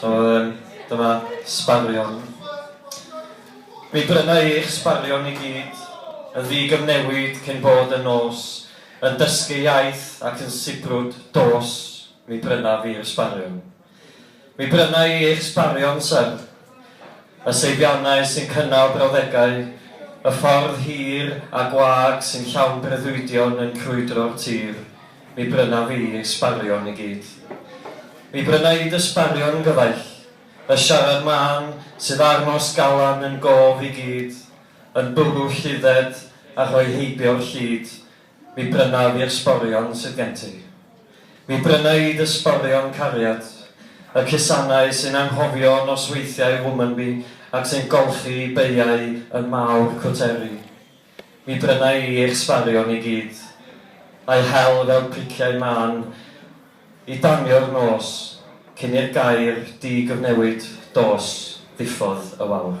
So yym dyma sbarion. Mi bryna i eich sbarion i gyd yn ddigyfnewid cyn bod yn nos, yn dysgu iaith ac yn sibrwd dos mi bryna fi'r sbarion. Mi bryna i eich sbarion syr, y seibiannau sy'n cynnal brawddegau, y ffordd hir a gwag sy'n llawn breuddwydion yn crwydro'r tir. Mi bryna fi ei sbarion i gyd. Mi bryna i dy sbarion gyfaill, y siarad mân sydd â'r nos galan yn gof i gyd, yn bwrw llifdded a rhoi heibio'r llid, mi bryna fi'r sborion sydd gen ti. Mi bryna i dy sborion cariad, y cusannau sy'n anghofio nosweithiau Womanby ac sy'n golchi beiau yn mawr cwteri. Mi bryna i eich sbarion i gyd, a'u hel fel priciau mân i danio'r nos, cyn i'r gair di gyfnewid dos ddiffodd y wawr.